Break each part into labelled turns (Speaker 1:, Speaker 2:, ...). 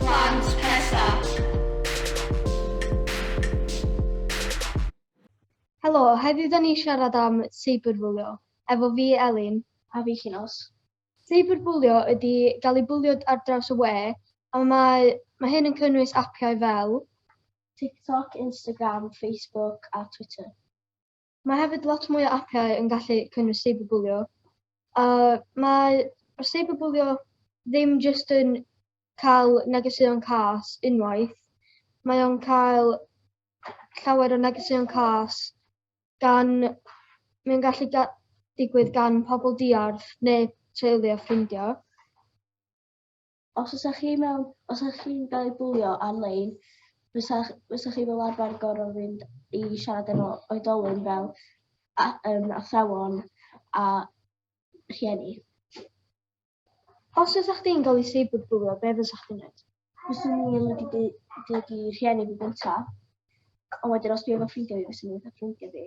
Speaker 1: Plant Presaf. Helo, heddiw da ni siarad am seiberbwlio. Efo fi Elin. A fi Llinos. Seiberbwlio ydy gael ei bwlio ar draws y we, a mae, mae hyn yn cynnwys apiau fel. TikTok, Instagram, Facebook a Twitter. Mae hefyd lot mwy o apiau yn gallu cynnwys cyberbwlio. A mae cyberbwlio ddim jyst yn cael negeseuon cas unwaith, mae o'n cael llawer o negeseuon cas gan, mae'n gallu ga digwydd gan pobl diarth neu teulu a ffrindiau.
Speaker 2: Os ydych chi mewn, os ydych chi'n cael ei bwlio ar-lein, fysach chi fel arfer gorfod fynd i siarad efo oedolyn fel athrawon a rhieni.
Speaker 1: Os fysach chdi'n cael ei seiberbwlio, be fysach chdi'n gwneud? Fyswn i yn mynd i
Speaker 2: ddeud i rhieni fi gynta, ond wedyn os dwi efo ffrindiau fi, fyswn i'n dweud wrth ffrindiau fi.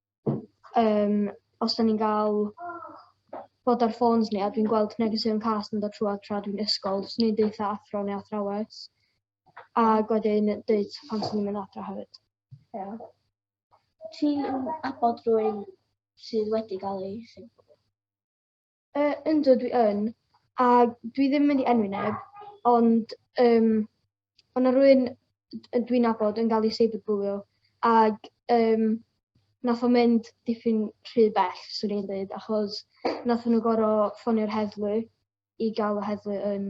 Speaker 1: um, os da ni'n gael bod ar ffôns ni a dwi'n gweld negeseuon cas yn dod trwy tra dwi'n ysgol, swn i'n deutha athro neu athrawes. A gwedi'n deud pan swn i'n mynd adra hefyd.
Speaker 2: Yeah. Ti'n abod rwy'n sydd wedi gael ei sefydlu? Yy
Speaker 1: yndw dwi yn, a dwi ddim yn mynd i enwi neb, ond yym o' 'na rywun d- dwi'n nabod yn ga'l 'i seiberbwlio ag yym nath o mynd dipyn rhy bell swn i'n deud achos nathon nw gor'o' ffonio'r heddlu i ga'l y heddlu yn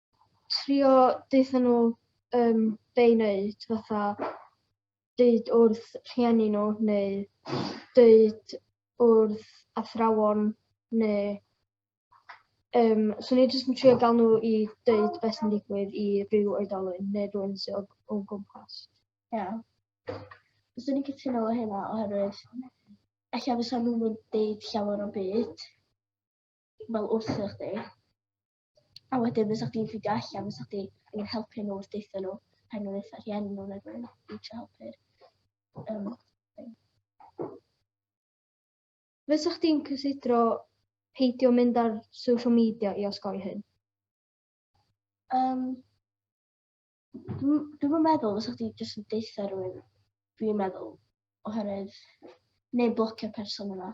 Speaker 1: trio deutha nhw um, be i wneud, fatha deud wrth rhieni nhw neu deud wrth athrawon neu um, so ni jyst yn trio gael nhw i deud beth sy'n digwydd i rhyw oedolyn neu rhywun sy'n o, o gwmpas. Ie. Yeah.
Speaker 2: Fyswn i'n cytuno o hynna oherwydd allan fysa nhw'n yn deud llawer o byd fel wrthych chi. A wedyn fysa chdi'n ffeindio allan, fysa chdi yn helpu nhw wrth deitha nhw, rhaid nhw'n eitha rhieni nhw neu rhywun i trio helpu'r um, thing.
Speaker 1: Fysa chdi'n cysidro peidio mynd ar social media i osgoi hyn?
Speaker 2: Um, Dwi'n meddwl fysa chdi jyst yn deitha rhywun, dwi'n meddwl, oherwydd, neu blocio person yna.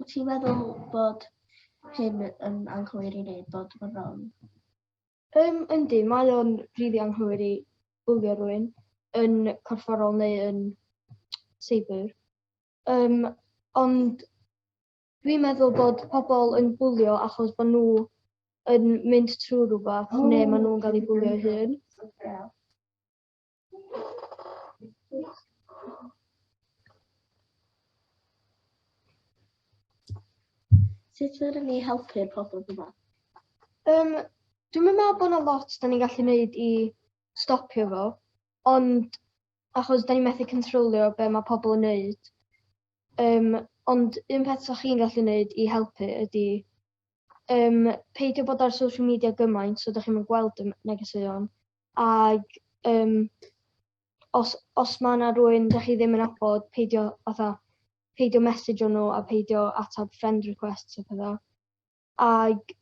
Speaker 2: Wyt ti'n meddwl bod hyn yn anghywir i wneud bod yn wrong? Um,
Speaker 1: yndi, mae o'n rili anghywir i bwlio rwy'n yn corfforol neu yn seibr. Um, ond dwi'n meddwl bod pobl yn bwlio achos bod nhw yn mynd trwy rhywbeth neu maen nhw'n cael ei bwlio ei hun.
Speaker 2: Sut ydym ni helpu'r pobl yma? Um,
Speaker 1: dwi'n meddwl bod yna lot da ni'n gallu gwneud i stopio fo, ond achos da ni'n methu controlio be mae pobl yn gwneud. Um, ond un peth sa'ch chi'n gallu gwneud i helpu ydy um, peidio bod ar social media gymaint so da chi'n gweld y negeseuon. Ac um, os, os mae yna rwy'n da chi ddim yn abod, peidio, atha, peidio message nhw a peidio atab friend requests a pethau. Ac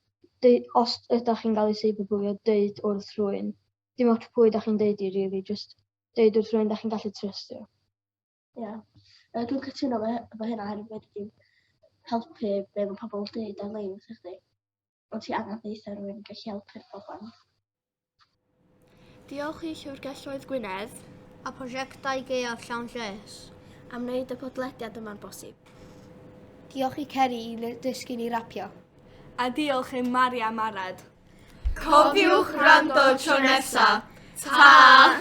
Speaker 1: os ydych chi'n cael ei cyberbwlio, dweud wrth rwy'n. Dim ots pwy ydych chi'n dweud i, really, just dweud wrth rwy'n da chi'n gallu trystio.
Speaker 2: Ie. Yeah. Uh, dwi'n cytuno fe, fe hynna hefyd wedi dim helpu be mae pobl yn dweud ar-lein wrthych chi. Ond ti angen ddeitha rhywun yn gallu helpu'r pobl.
Speaker 3: Diolch i Llyfrgelloedd Gwynedd a prosiectau
Speaker 4: gaeaf llawn lles am wneud y
Speaker 3: podlediad yma'n bosib.
Speaker 5: Diolch i Ceri i dysgu ni rapio. A diolch
Speaker 3: i Maria Marad. Cofiwch
Speaker 4: rando tro nesa.
Speaker 3: Ta!